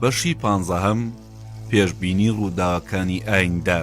بەشی پانزەهەم پێشبینی ڕووداوەکانی ئایندە.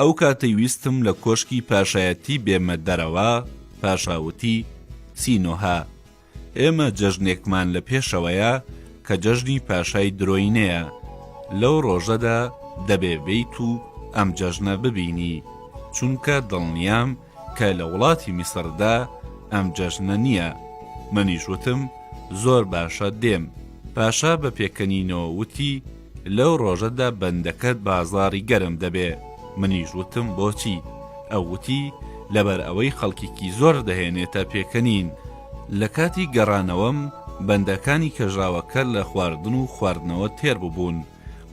ئەو کاتەی ویستم لە کۆشکی پاشایەتی بێمە دەرەوە پاشاوتی سینۆها ئێمە جەژنێکمان لە پێشەوەیە کە جەژنی پاشای درۆینەیە، لەو ڕۆژەدا دەبێ بێیت و ئەم جەژنە ببینی، چونکە دڵنیام کە لە وڵاتی میسڕدا ئەم جەژنە نییە. منیش وتم زۆر باشە دێم. پاشا بە پێکەنینەوە وتی، لەو ڕۆژەدا بەندەکەت بازاڕی گەرم دەبێ. منیش وتم بۆچی؟ ئەو وتی لەبەر ئەوەی خەڵکێکی زۆر دەهێنێتە پێکەنین. لە کاتی گەڕانەوەم بەندەکانی کەژاوەکە لە خواردن و خواردنەوە تێر ببوون،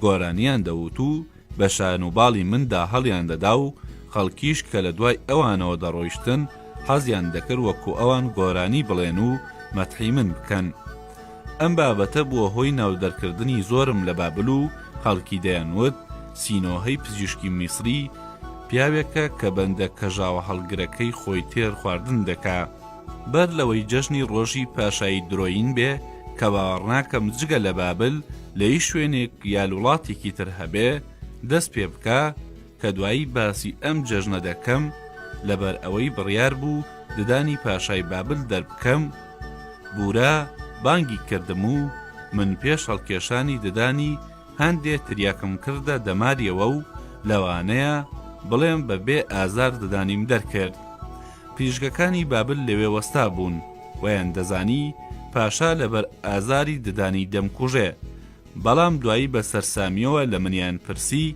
گۆرانیان دەوت و بە شان و باڵی مندا هەڵیان دەدا و خەڵکیش کە لە دوای ئەوانەوە دەڕۆیشتن حەزیان دەکرد وەکوو ئەوان گۆرانی بڵێن و مەتحی من بکەن. ئەم بابەتە بووە هۆی ناودەرکردنی زۆرم لە بابل و خەڵکی دەیانوت سینۆهەی پزیشکی میسری، پیاوێکە کە بەندە کەژاوەهەڵگرەکەی خۆی تێر خواردن دەکا. بەر لەوەی جەژنی ڕۆژی پاشایی درۆیین بێ کە باوەڕناکەم جگە لە بابل لە هیچ شوێنێک یا لوڵاتێکی تر هەبێ، دەست پێ بکا، کە دوایی باسی ئەم جەژنە دەکەم لەبەر ئەوەی بڕیار بوو ددانی پاشای بابل دەربکەم بورا بانگی کردم و من پێش هەڵکێشانی ددانی هەندێ تریاکم کردە دەماریەوە و لەوانەیە بڵێم بە بێ ئازار ددانیم دەرکرد پریشگەکانی بابل لەوێ وەستا بوون ویان دەزانی پاشا لەبەر ئازاری ددانی دەمکوژێ بەڵام دوایی بە سەرسامیەوە لە منیان پرسی،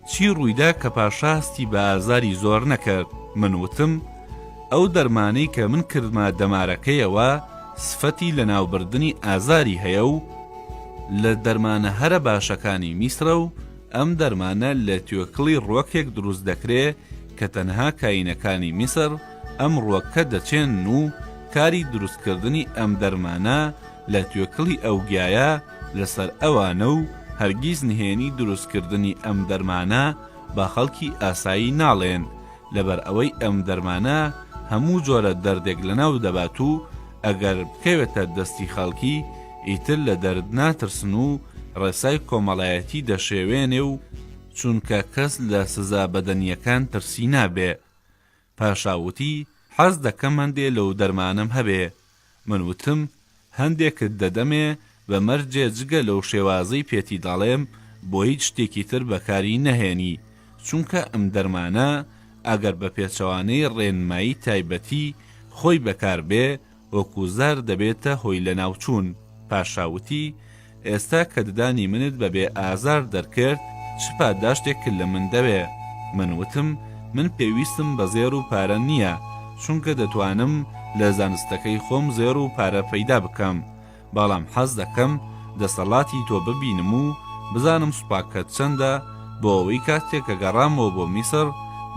چی ڕوویدا کە پاشا هەستی بە ئازاری زۆر نەکرد، من وتم، ئەو دەرمانەی کە من کردمە دەمارەکەیەوە سفەتی لەناوبردنی ئازاری هەیە و لە دەرمانە هەرە باشەکانی میسرە و ئەم دەرمانە لە توێکڵی ڕوەکێک دروست دەکرێ کە تەنها کاینەکانی میسر ئەم ڕوەکە دەچێنن و کاری دروستکردنی ئەم دەرمانە لە توێکڵی ئەو گیایە لەسەر ئەوانە و هەرگیز نهێنی دروستکردنی ئەم دەرمانە بە خەڵکی ئاسایی ناڵێن، لەبەر ئەوەی ئەم دەرمانە هەموو جۆرە دەردێک لەناو دەبات و ئەگەر بکەوێتە دەستی خەڵکی ئیتر لە دەرد ناترسن و ڕێسای کۆمەڵایەتی دەشێوێنێ و چونکە کەس لە سزا بەدەنییەکان ترسی نابێ. پاشا وتی حەز دەکەم هەندێ لەو دەرمانەم هەبێ، من وتم هەندێکت دەدەمێ بە مەرجێ جگە لەو شێوازەی پێتی دەڵێم بۆ هیچ شتێکی تر بەکاری نەهێنی، چونکە ئەم دەرمانە ئەگەر بە پێچەوانەی ڕێنمایی تایبەتی خۆی بەکار بێ، ئۆکوزار دەبێتە هۆی لەناوچوون. پاشا وتی، ئێستا کە ددانی منت بە بێ ئازار دەرکرد، چ پاداشتێکت لە من دەوێ؟ من وتم، من پێویستم بە زێڕ و پارە نییە، چونکە دەتوانم لە زانستەکەی خۆم زێڕ و پارە پەیدا بکەم، بەڵام حەز دەکەم دەسەڵاتی تۆ ببینم و بزانم سوپاکەت چەندە بۆ ئەوەی کاتێک کە گەڕامەوە بۆ میسڕ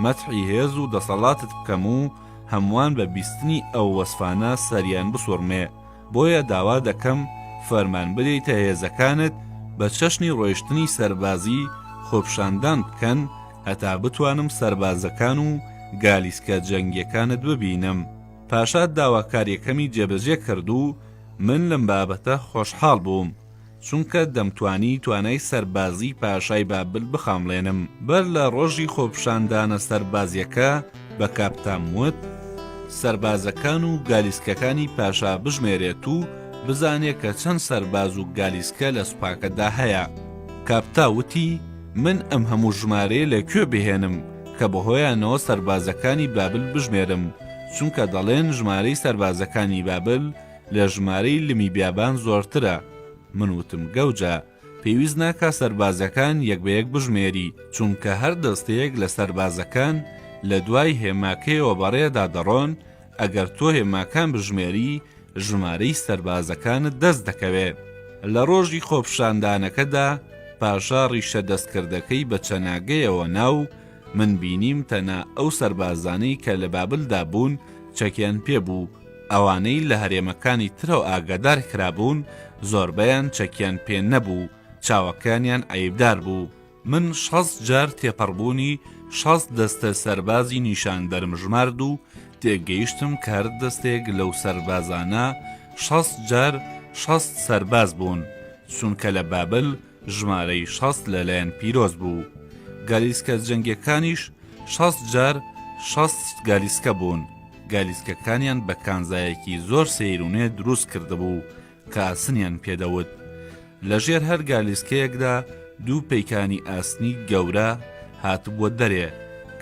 مەتحی هێز و دەسەڵاتت بکەم و هەمووان بە بیستنی ئەو وەسفانە سەریان بسوڕمێ، بۆیە داوا دەکەم فەرمان بدەیتە هێزەکانت بە چەشنی ڕۆیشتنی سەربازی خۆپشاندان بکەن هەتا بتوانم سەربازەکان و گالیسکە جەنگیەکانت ببینم. پاشا داواکاریەکەمی جێبەجێ کرد و من لەم بابەتە خۆشحاڵ بووم. چونکە دەمتوانی توانای سەربازیی پاشای بابل بخامڵێنم. بەر لە ڕۆژی خۆپیشاندانە سەربازییەکە، بە کاپتام وت، سەربازەکان و گالیسکەکانی پاشا بژمێرێت و بزانێت کە چەند سەرباز و گالیسکە لە سوپاکەدا هەیە. کاپتا وتی، من ئەم هەموو ژمارەیە لە کوێ بهێنم، کە بەهۆیانەوە سەربازەکانی بابل بژمێرم، چونکە دەڵێن ژمارەی سەربازەکانی بابل، لە ژمارەی لمی بیابان زۆرترە. من وتم گەوجە، پێویست ناکا سەربازەکان یەک بە یەک بژمێری، چونکە هەر دەستەیەک لە سەربازەکان لە دوای هێماکەیەوە بەڕێدا دەڕۆن، ئەگەر تۆ هێماکان بژمێری، ژمارەی سەربازەکانت دەست دەکەوێ. لە ڕۆژی خۆپشاندانەکەدا پاشا ڕیشە دەستکردەکەی بە چەناگەیەوە نا و، من بینیم تەنە ئەو سەربازانەی کە لە بابلدا بوون چەکیان پێ بوو، ئەوانەی لە هەرێمەکانی ترەوە ئاگادار کرابوون زۆربەیان چەکیان پێ نەبوو، چاوەکانیان عەیبدار بوو. من شەست جار تێپەڕبوونی شەست دەستە سەربازی نیشان دەرمژمارد و تێگەیشتم کە هەر دەستێک لەو سەربازانە شەست جار شەست سەرباز بوون، چونکە لە بابل ژمارەی شەست لەلایەن پیرۆز بوو گالیسکە جەنگیەکانیش شەست جار شەست گالیسکە بوون گالیسکەکانیان بە کانزایەکی زۆر سەیرونێ دروست کردبوو کە ئاسنیان پێدەوت لەژێر هەر گالیسکەیەکدا دوو پەیکانی ئاسنی گەورە هاتبووە دەرێ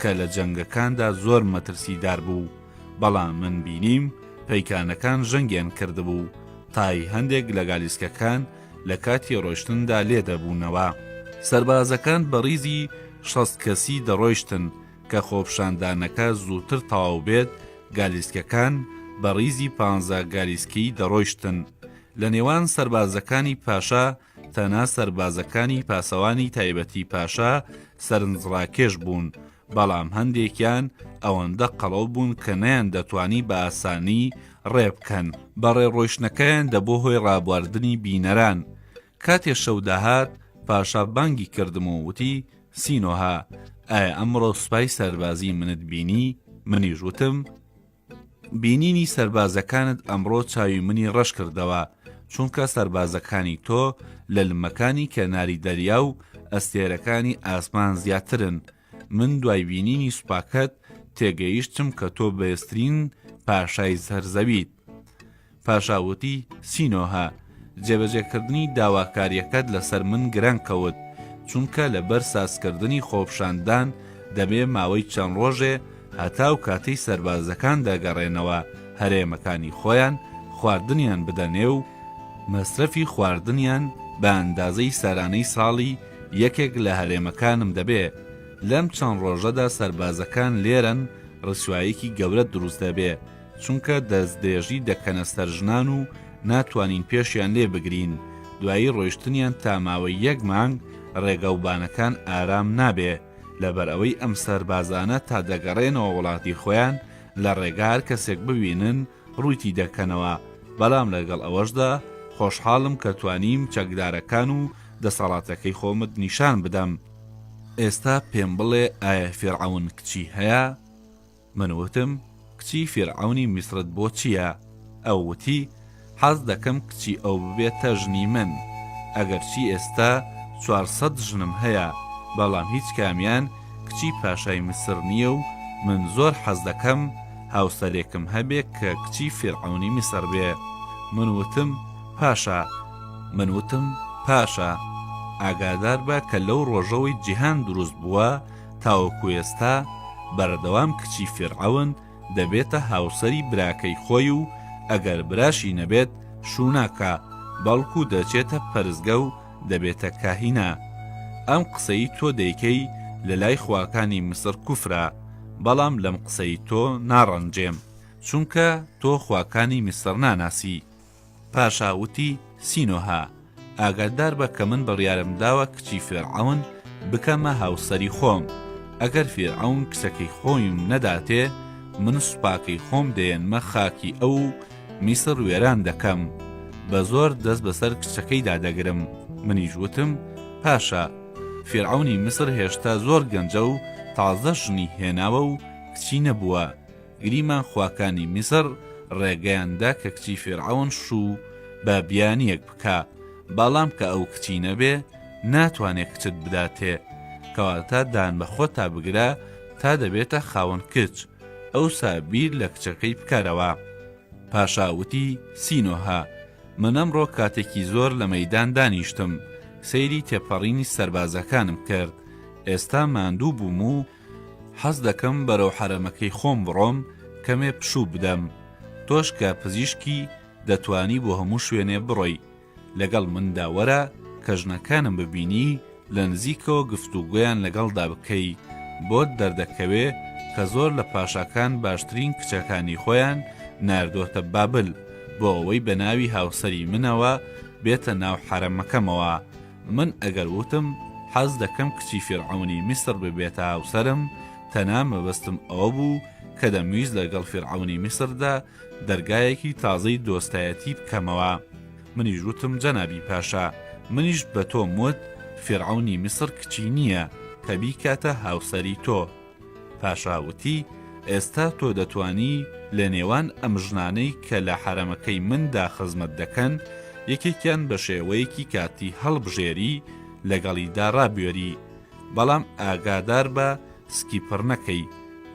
کە لە جەنگەکاندا زۆر مەترسیدار بوو بەڵام من بینیم پەیکانەکان ژەنگیان کردبوو تای هەندێک لە گالیسکەکان لە کاتی ڕۆشتندا لێدەبوونەوە سەربازەکان بە ڕیزی شەست کەسی دەڕۆیشتن کە خۆپشاندانەکە زووتر تەواو بێت گالیسکەکان بە ڕیزی پ گالیسکی دەڕۆیشتن لە نێوان سەربازەکانی پاشا تەنا سەربازەکانی پاسەوانی تایبەتی پاشا سەرنجڕاکێش بوون بەڵام هەندێکیان ئەوەندە قەڵەو بوون کە نەیان دەتوانی بە ئاسانی ڕێبکەن بەڕێ ڕۆیشتنەکەیان دەبۆ هۆی ڕابواردنی بینەران کاتێ شەو داهات پاشا بانگی کردم و وتی سینۆها ئایا ئەمڕۆ سوپای سەربازی منت بینی منیش وتم بینینی سەربازەکانت ئەمڕۆ چاوی منی ڕەش کردەوە، چونکە سەربازەکانی تۆ لە لمەکانی کەناری دەریا و ئەستێرەکانی ئاسمان زیاترن، من دوای بینینی سوپاکەت تێگەیشتم کە تۆ بەێزترین پاشای سەر زەویت. پاشا وتی، سینۆهە، جێبەجێکردنی داواکارییەکەت لەسەر من گرنگ کەوت، چونکە لەبەر سازکردنی خۆپشاندان دەبێ ماوەی چەند ڕۆژێ هەتاو کاتەی سەربازەکان دەگەڕێنەوە هەرێمەکانی خۆیان خواردنیان بدەنێ و مەسرەفی خواردنیان بە ئەندازەی سارانەی ساڵی یەکێک لە هەرێمەکانم دەبێ، لەم چەند ڕۆژەدا سەربازەکان لێرەن ڕسواییەکی گەورەت دروست دەبێ. چونکە دەستدرێژی دەکەنە سەر ژنان و ناتوانین پێشیان لێ بگرین، دوایی ڕۆیشتنیان تا ماوەی یەک مانگ ڕێگا و بانەکان ئارام نابێ، لەبەر ئەوەی ئەم سەربازانە تا دەگەڕێنەوە وڵاتی خۆیان لە ڕێگا هەر کەسێک ببینن ڕووتی دەکەنەوە، بەڵام لەگەڵ ئەوەشدا خۆشحاڵم کە توانیم چەکدارەکان و دەسەڵاتەکەی خۆمت نیشان بدەم. ئێستا پێم بڵێ ئایا فیرعەون کچی هەیە؟ من وتم، کچی فیرعەونی میسرت بۆ چییە؟ ئەو وتی، حەز دەکەم کچی ئەو ببێتە ژنی من، ئەگەرچی ئێستا چوار سەد ژنم هەیە، بەڵام هیچ کامیان کچی پاشای میسر نییە و من زۆر حەز دەکەم هاوسەرێکم هەبێ کە کچی فیرعەونی میسر بێ. من وتم، پاشا! من وتم، پاشا! ئاگادار بە کە لەو ڕۆژەوەی جیهان دروست بووە، تاوەکو ئێستا بەردەوام کچی فیرعەون دەبێتە هاوسەری براکەی خۆی و ئەگەر براشی نەبێت شووناکە بەڵکو دەچێتە پەرستگە و دەبێتە کاهینە ئەم قسەی تۆ دەیکەی لە لای خواکانی میسر کوفرە بەڵام لەم قسەی تۆ ناڕەنجێم چونکە تۆ خواکانی میسر ناناسی. پاشا وتی، سینۆها، ئاگادار بە کە من بڕیارم داوە کچی فێرعەون بکەمە هاوسەری خۆم، ئەگەر فێرعەون کچەکەی خۆیم نەداتێ، من سوپاکەی خۆم دەیەنمە خاکی ئەو و میسر وێران دەکەم، بە زۆر دەست بەسەر کچەکەیدا دەگرم. منیش وتم، پاشا، فێرعەونی میسر هێشتا زۆر گەنجە و تازە ژنی هێناوە و کچی نەبووە، گریمان خواکانی میسڕ ڕێگەیان دا کە کچی فیرعەون شوو بە بیانیەک بکا باڵام کە ئەو کچی نەبێ ناتوانێ کچت بداتێ کەواتە دان بە خۆتا بگرە تا دەبێتە خاوەن کچ ئەو سابیر لە کچەکەی بکارەوە پاشاوتی سینۆها منەم ڕۆ کاتێکی زۆر لە مەدان دانیشتم سەیری تێپەڕینی سربازەکانم کرد ئێستا ماندوو بووم و حەز دەکەم بەرەو حەرەمەکەی خۆم بڕۆم کەمێ پشوو بدەم تۆش کە پزیشکی دەتوانی بۆ هەموو شوێنێ بڕۆی لەگەڵ مندا وەرە کە ژنەکانم ببینی لە نزیکەوە گفتوگۆیان لەگەڵدا بکەی بۆت دەردەکەوێ کە زۆر لە پاشاکان باشترین کچەکانی خۆیان ناردۆتە بابل بۆ ئەوەی بە ناوی هاوسەری منەوە بێتە ناو حەرەمەکەمەوە من ئەگەر وتم حەز دەکەم کچی فیرعەونی میسر ببێتە هاوسەرم تەنها مەبەستم ئەوە بوو کە دەمویست لەگەڵ فیرعەونی میسردا دەرگایەکی تازەی دۆستایەتی بکەمەوە منیش وتم جەنابی پاشا منیش بە تۆم وت فیرعەونی میسر کچی نییە کە بیکاتە هاوسەری تۆ. پاشا وتی، ئێستا تۆ دەتوانی لە نێوان ئەم ژنانەی کە لە حەرەمەکەی مندا خزمەت دەکەن، یەکێکیان بە شێوەیەکی کاتی هەڵبژێری لەگەڵیدا ڕابوێری، بەڵام ئاگادار بە سکی پڕ نەکەی،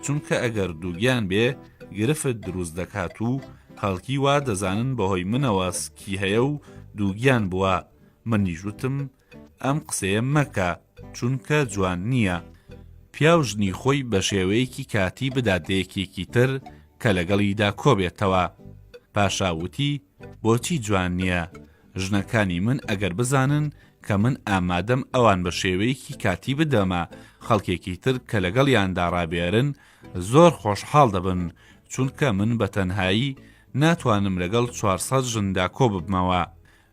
چونکە ئەگەر دووگیان بێ، گرفت دروست دەکات و خەڵکی وا دەزانن بەهۆی منەوە سکی هەیە و دووگیان بووە، منیش وتم، ئەم قسەیە مەکە چونکە جوان نییە. پیاو ژنی خۆی بە شێوەیەکی کاتی بدات بە یەکێکی تر کە لەگەڵیدا کۆبێتەوە. پاشا وتی، بۆچی جوان نییە؟ ژنەکانی من ئەگەر بزانن کە من ئامادەم ئەوان بە شێوەیەکی کاتی بدەمە خەڵکێکی تر کە لەگەڵیاندا ڕابێرن، زۆر خۆشحاڵ دەبن، چونکە من بە تەنهایی ناتوانم لەگەڵ چوار سەد ژندا کۆببمەوە.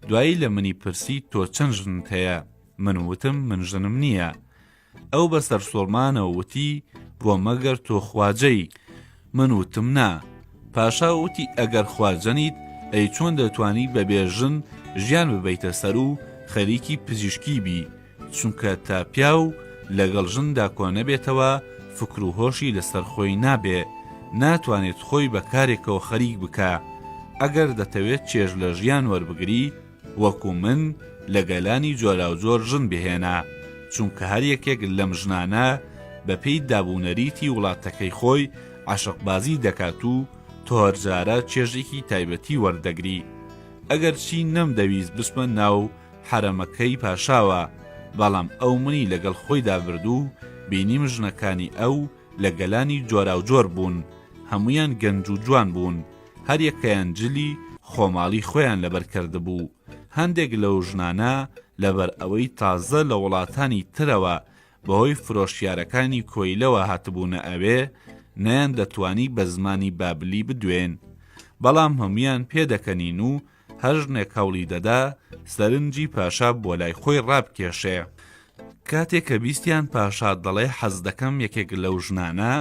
دوایی لە منی پرسی تۆ چەند ژنت هەیە من وتم من ژنم نییە ئەو بە سەرسوڕمانەوە وتی بۆ مەگەر تۆ خواجەی من وتم نا پاشا وتی ئەگەر خواجەنیت ئەی چۆن دەتوانی بەبێ ژن ژیان ببیتە سەر و خەریکی پزیشکی بی چونکە تا پیاو لەگەڵ ژندا کۆنەبێتەوە فکر و هۆشی لەسەر خۆی نابێ، ناتوانێت خۆی بە کارێکەوە خەریک بکا. ئەگەر دەتەوێت چێژ لە ژیان وەربگری، وەکو من لە گەلانی جۆراوجۆر ژن بهێنە، چونکە هەر یەکێک لەم ژنانە بە پێی داب و نەریتی وڵاتەکەی خۆی عەشقبازی دەکات و تۆ هەرجارە چێژێکی تایبەتی وەردەگری. ئەگەرچی نەمدەویست بچمە ناو حەرەمەکەی پاشاوە، بەڵام ئەو منی لەگەڵ خۆیدا برد و بینیم ژنەکانی ئەو لە گەلانی جۆراوجۆر بوون، هەموویان گەنج و جوان بوون، هەریەکەیان جلی خۆماڵی خۆیان لەبەر کردبوو، هەندێک لەو ژنانە لەبەر ئەوەی تازە لە وڵاتانی ترەوە بەهۆی فرۆشیارەکانی کۆیلەوە هاتبوونە ئەوێ، نەیاندەتوانی بە زمانی بابلی بدوێن، بەڵام هەموویان پێدەکەنین و هەر ژنێک هەوڵی دەدا سەرنجی پاشا بۆ لای خۆی ڕابکێشێ کاتێک کە بیستیان پاشا دەڵێ حەز دەکەم یەکێک لەو ژنانە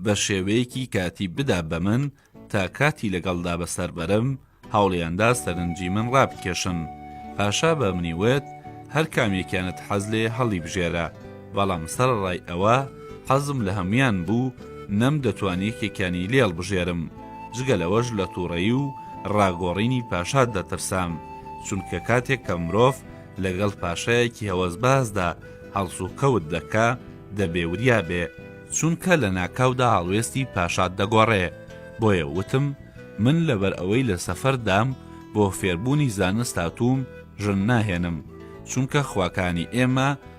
بە شێوەیەکی کاتی بدا بە من تا کاتی لەگەڵدا بەسەر بەرم هەوڵیاندا سەرنجی من ڕابکێشن پاشا بە منی وت هەر کامێکیانت حەز لێ هەڵی بژێرە بەڵام سەرەڕای ئەوە حەزم لە هەموویان بوو، نەم دەتوان یەکێکیانی لێ هەڵبژێرم، جگە لەوەش لە تووڕەیی و ڕاگۆڕینی پاشا دەترسام، چونکە کاتێک کە مرۆڤ لەگەڵ پاشایەکی هەوەسبازدا هەڵسوکەوت دەکا، دەبێ وریا بێ، چونکە لە ناکاودا هەڵوێستی پاشات دەگۆڕێ، بۆیە وتم، من لەبەر ئەوەی لە سەفەردام، بۆ فێربوونی زانست هاتووم، ژن ناهێنم، چونکە خواکانی ئێمە،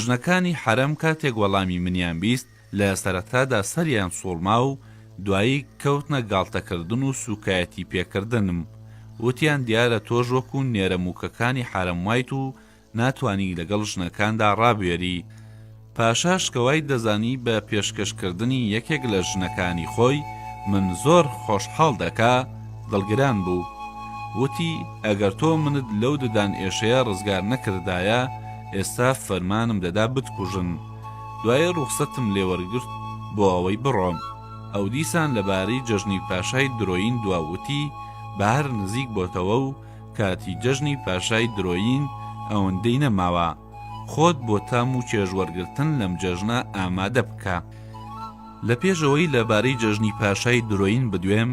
ژنەکانی حەرەم کاتێک وەڵامی منیان بیست لە سەرەتادا سەریان سووڕما و دوایی کەوتنە گاڵتەکردن و سووکایەتی پێکردنم، وتیان دیارە تۆش وەکو نێرەمووکەکانی حەرەم وایت و ناتوانی لەگەڵ ژنەکاندا ڕابوێری. پاشاش کە وای دەزانی بە پێشکەشکردنی یەکێک لە ژنەکانی خۆی من زۆر خۆشحاڵ دەکا، دڵگران بوو. وتی، ئەگەر تۆ منت لەو ددانئێشەیە ڕزگار نەکردایە، ئێستا فەرمانم دەدا بتکوژن، دوایی ڕوخسەتم لێ وەرگرت بۆ ئەوەی بڕۆم. ئەو دیسان لەبارەی جەژنی پاشای درۆیین دوا وتی، بەهار نزیک بۆتەوە و کاتی جەژنی پاشای درۆیین ئەوەندەی نەماوە. خۆت بۆ تام و چێژ وەرگرتن لەم جەژنە ئامادە بکە. لە پێش ئەوەی لەبارەی جەژنی پاشای درۆیین بدوێم،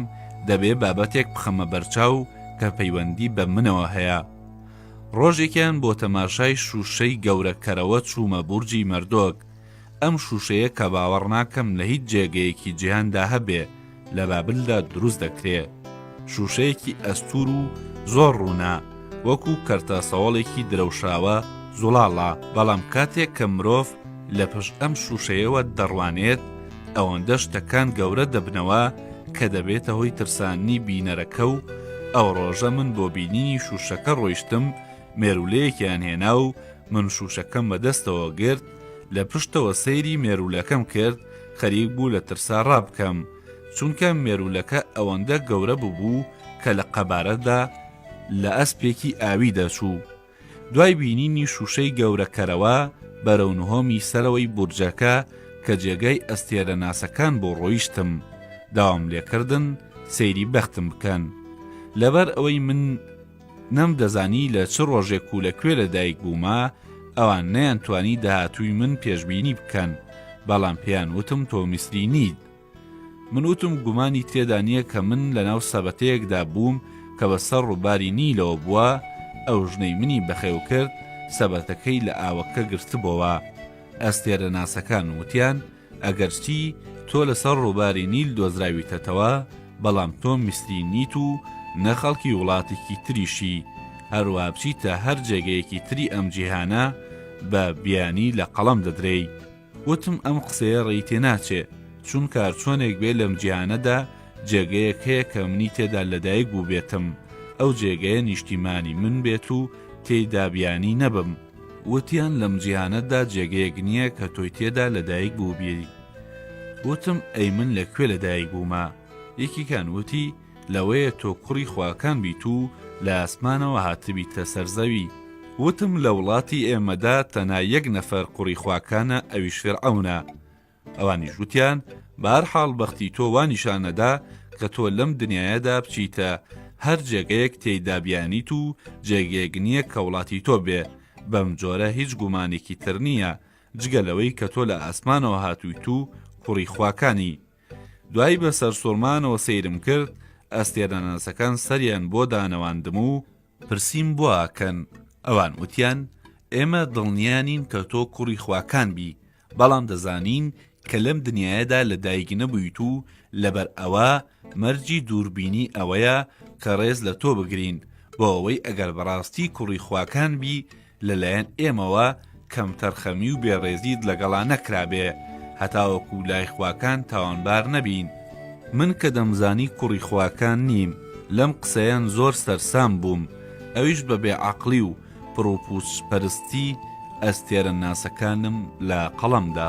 دەبێ بابەتێک بخەمە بەرچاو کە پەیوەندی بە منەوە هەیە. ڕۆژێکیان بۆ تەماشای شووشەی گەورەکەرەوە چوومە بورجی مەردۆک، ئەم شووشەیە کە باوەڕ ناکەم لە هیچ جێگەیەکی جیهاندا هەبێ، لە بابلدا دروست دەکرێ. شووشەیەکی ئەستوور و زۆر ڕوونە، وەکوو کەرتە سەوەڵێکی درەوشاوە زوڵاڵە، بەڵام کاتێک کە مرۆڤ لە پشت ئەم شووشەیەوە دەڕوانێت، ئەوەندە شتەکان گەورە دەبنەوە، کە دەبێتە هۆی ترساندنی بینەرەکە و ئەو ڕۆژە من بۆ بینینی شوشەکە ڕۆیشتم مێرولەیەکیان هێنا و من شوشەکەم بەدەستەوە گرت لە پشتەوە سەیری مێرولەکەم کرد خەریک بوو لە ترسا ڕابکەم چونکە مێرولەکە ئەوەندە گەورە ببوو کە لە قەبارەدا لە ئەسپێکی ئاوی دەچوو دوای بینینی شووشەی گەورەکەرەوە، بەرەو نهۆمی سەرەوەی بورجەکە کە جێگای ئەستێرەناسەکان بوو ڕۆیشتم، داوام لێکردن سەیری بەختم بکەن. لەبەر ئەوەی من نەمدەزانی لە چ ڕۆژێک و لە کوێ لە دایک بوومە، ئەوان نەیانتوانی داهاتووی من پێشبینی بکەن، بەڵام پێیان وتم تۆ میسری نیت. من وتم گومانی تێدا نییە کە من لەناو سەبەتەیەکدا بووم کە بە سەر ڕووباری نیلەوە بووە، ئەو ژنەی منی بەخێو کرد سەبەتەکەی لە ئاوەکە گرتبۆوە. ئەستێرەناسەکان وتیان ئەگەرچی تۆ لەسەر ڕووباری نیل دۆزراویتەتەوە، بەڵام تۆ میسری نیت و نە خەڵکی وڵاتێکی تریشی، هەروا بچیتە هەر جێگەیەکی تری ئەم جیهانە بە بیانی لە قەڵەم دەدرێی. وتم ئەم قسەیە ڕێی تێ ناچێ، چونکە هەر چۆنێک بێ لەم جیهانەدا جێگەیەک هەیە کە منی تێدا لەدایک بووبێتم، ئەو جێگەیە نیشتیمانی من بێت و تێیدا بیانی نەبم. وتیان لەم جیهانەدا جێگەیەک نییە کە تۆی تێدا لەدایک بووبی. وتم ئەی من لە کوێ لەدایک بوومە؟ یەکێکیان وتی، لەوەیە تۆ کوڕی خواکان بیت و لە ئاسمانەوە هاتبیتە سەر زەوی. وتم لە وڵاتی ئێمەدا تەنها یەک نەفەر قوڕی خواکانە ئەویش فیرعەونە. ئەوانیش وتیان، بەهەرحاڵ بەختی تۆ وا نیشان ئەدا کە تۆ لەم دنیایەدا بچیتە هەر جێگەیەک تێیدا بیانیت و جێگەیەک نییە کە وڵاتی تۆ بێ، بەم جۆرە هیچ گومانێکی تر نییە جگە لەوەی کە تۆ لە ئاسمانەوە هاتوویت و کوڕی خواکانی. دوایی بە سەرسوڕمانەوە سەیرم کرد، ئەستێرەناسەکان سەریان بۆ دانەواندم و پرسیم بۆ ئەکەن، ئەوان وتیان ئێمە دڵنیا نین کە تۆ کوڕی خواکان بی، بەڵام دەزانین کە لەم دنیایەدا لە دایک نەبوویت و لەبەر ئەوە مەرجی دووربینی ئەوەیە کە ڕێز لە تۆ بگرین بۆ ئەوەی ئەگەر بەڕاستی کوڕی خواکان بی، لەلایەن ئێمەوە کەمتەرخەمی و بێڕێزیت لەگەڵا نەکرابێ، هەتاوەکو لای خواکان تاوانبار نەبین. من کە دەمزانی کوڕی خواکان نیم، لەم قسەیەن زۆر سەرسام بووم، ئەویش بە بێعەقڵی و پڕوپوچ پەرستی ئەستێرەناسەکانم لە قەڵەم دا.